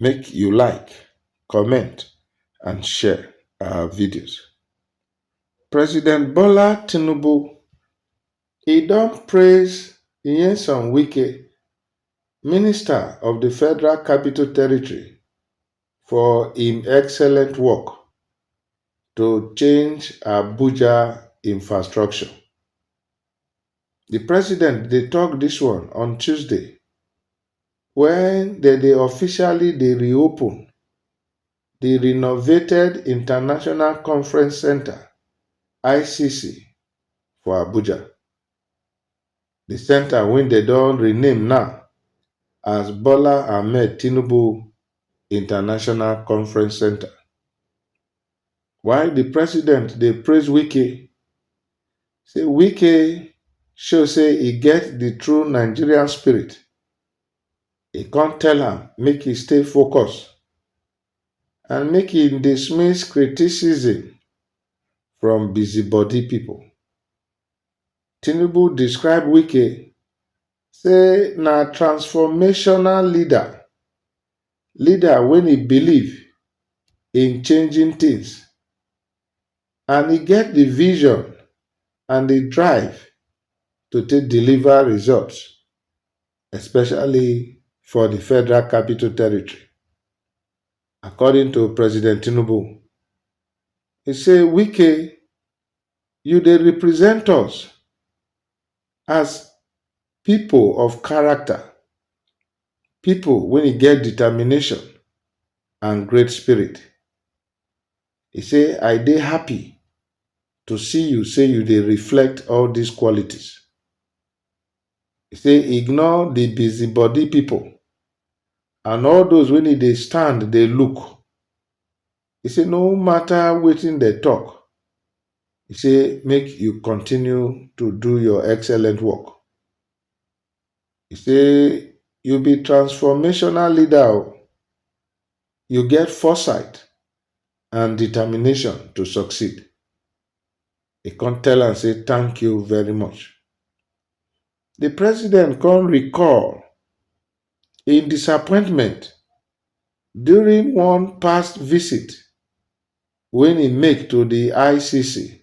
Make you like, comment and share our videos. President Bola Tinubu, he don praise Nyesom Wike, Minister of the Federal Capital Territory for im excellent work to change Abuja infrastructure. The president dey talk this one on Tuesday Wen dem dey officially dey reopen di renovated International Conference Centre, ICC, for Abuja. Di centre wey dem don rename now as Bola Ahmed Tinubu International Conference Centre. While di president dey praise Wike, say Wike show say e get di true Nigerian spirit, e come tell am make e stay focus and make e dismiss criticism from busybody pipo. Tinubu describe Wike say na transformational leader, leader wey e believe in changing things and e get di vision and di drive to take deliver results especially for di federal capital territory according to President Tinubu e say Wike you dey represent us as pipo of character Pipo wey e get determination and great spirit. E say, I dey happy to see you say you dey reflect all dis qualities. E say, ignore di busybody pipo and all those wey e dey stand dey look. E say, no mata wetin dem tok, e say make you continue to do your excellent work. E say you be transformational leader o, you get foresight and determination to succeed. E come tell am say thank you very much. Di president come recall im disappointment during one past visit wey e make to di ICC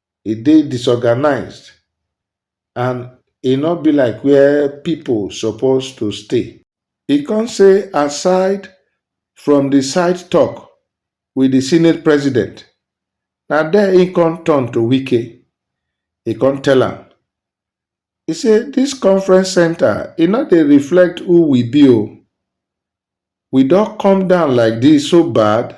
e dey disorganized and e no be like where pipo suppose to stay. E come say aside from di side tok wit di senate president, na there im come turn to Wike, e come tell am, e say dis conference centre e no dey reflect who we be o, we don come down like dis so bad?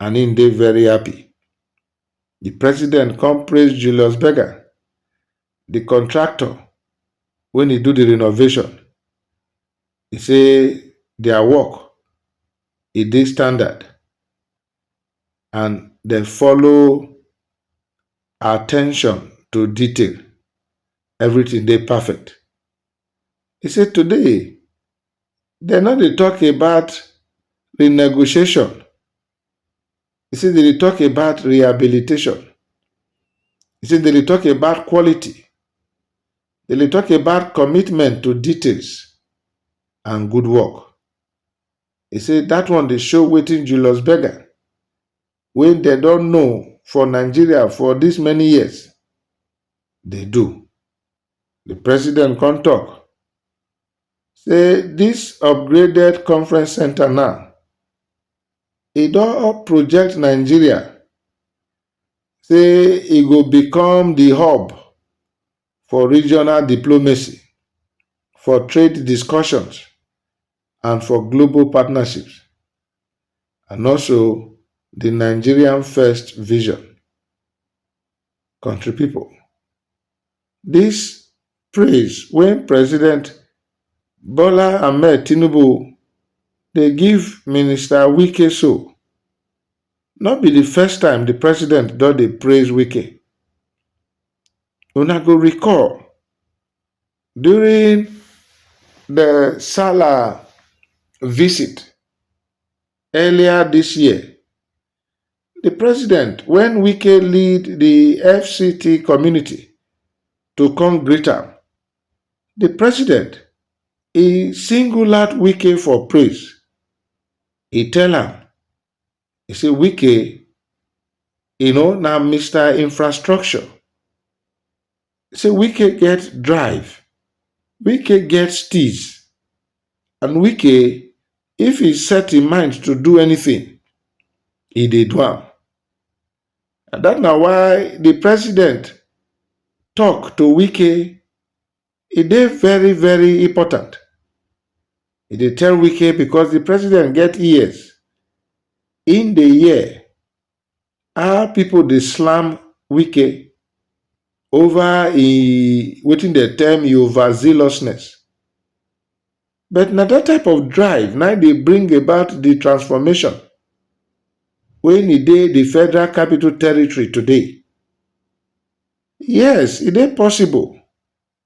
and im dey very happy. Di president come praise Julius Berger, di contractor wey dey do di renovation, e say dia work e dey standard and dem follow attention to detail, everytin dey perfect. E say today dem no dey talk about renegotiation, you see dem dey talk about rehabilitation, you see dem dey talk about quality, dem dey talk about commitment to details and good work. E say dat one dey show wetin Julius Berger wey dem don know for Nigeria for dis many years dey do. Di president come tok say dis upgraded conference centre now, e don up project Nigeria say e go become di hub for regional diplomacy, for trade discussions and for global partnerships and also di Nigerian first vision. Country pipo, dis praise wey President Bola Ahmed Tinubu dey give Minister Wike so, no be di first time di President don dey praise Wike. Una go recall, during di Sallah visit earlier dis year, di president wen wike lead di fct community to come greet am, di president e single out wike for praise, e tell am e say wike e know na Mister infrastructure, say Wike get drive, Wike get steeze and Wike if he set im mind to do anything, he dey do am. And that na why the president talk to Wike, e dey very very important. He dey tell Wike because the president get ears, im dey hear How pipo dey slam Wike ova e wetin dem term e overzealousness, but na dat type of drive na im dey bring about di transformation wey e dey di Federal Capital Territory today. Yes, e dey possible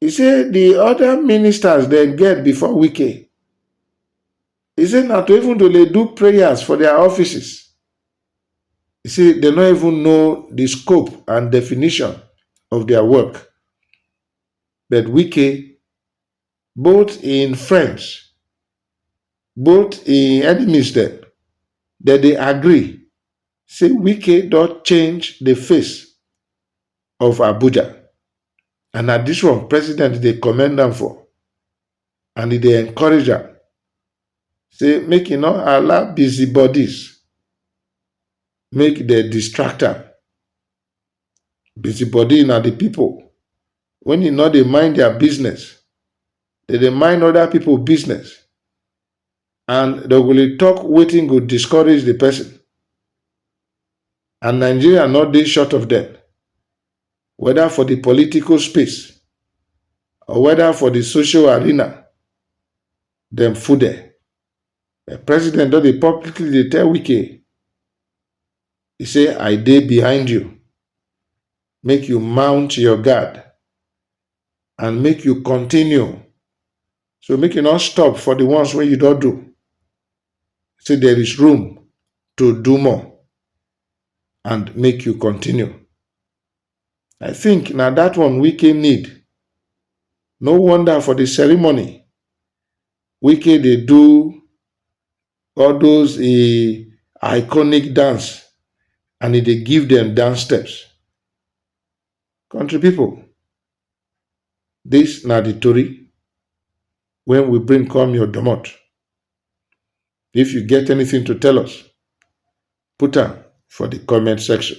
He say the other ministers dem get before Wike, he say na to even to dey do prayers for their offices. He say dem no even know the scope and definition of their work. But Wike, both im friends, both im enemies dem, dem dey agree say Wike don change the face of Abuja. And na this one president dey commend am for and e dey encourage am say make e no allow busybodies make dem distract am. Busybody na the people when e no dey mind their business, dem dey mind other people business and dem go dey talk wetin go discourage the person and Nigeria no dey short of them. weda for di political space or weda for di social arena, dem full there. Di president don dey publicly dey tell Wike, e say I dey behind you, make you mount your guard and make you continue, so make you no stop for di ones wey you don do, say there is room to do more. and make you continue. I think na that one Wike need. No wonder for the ceremony, Wike dey do all those e iconic dance and e dey give them dance steps. Country pipo, dis na di tori wey we bring come your domot. If you get anything to tell us, put am for di comment section.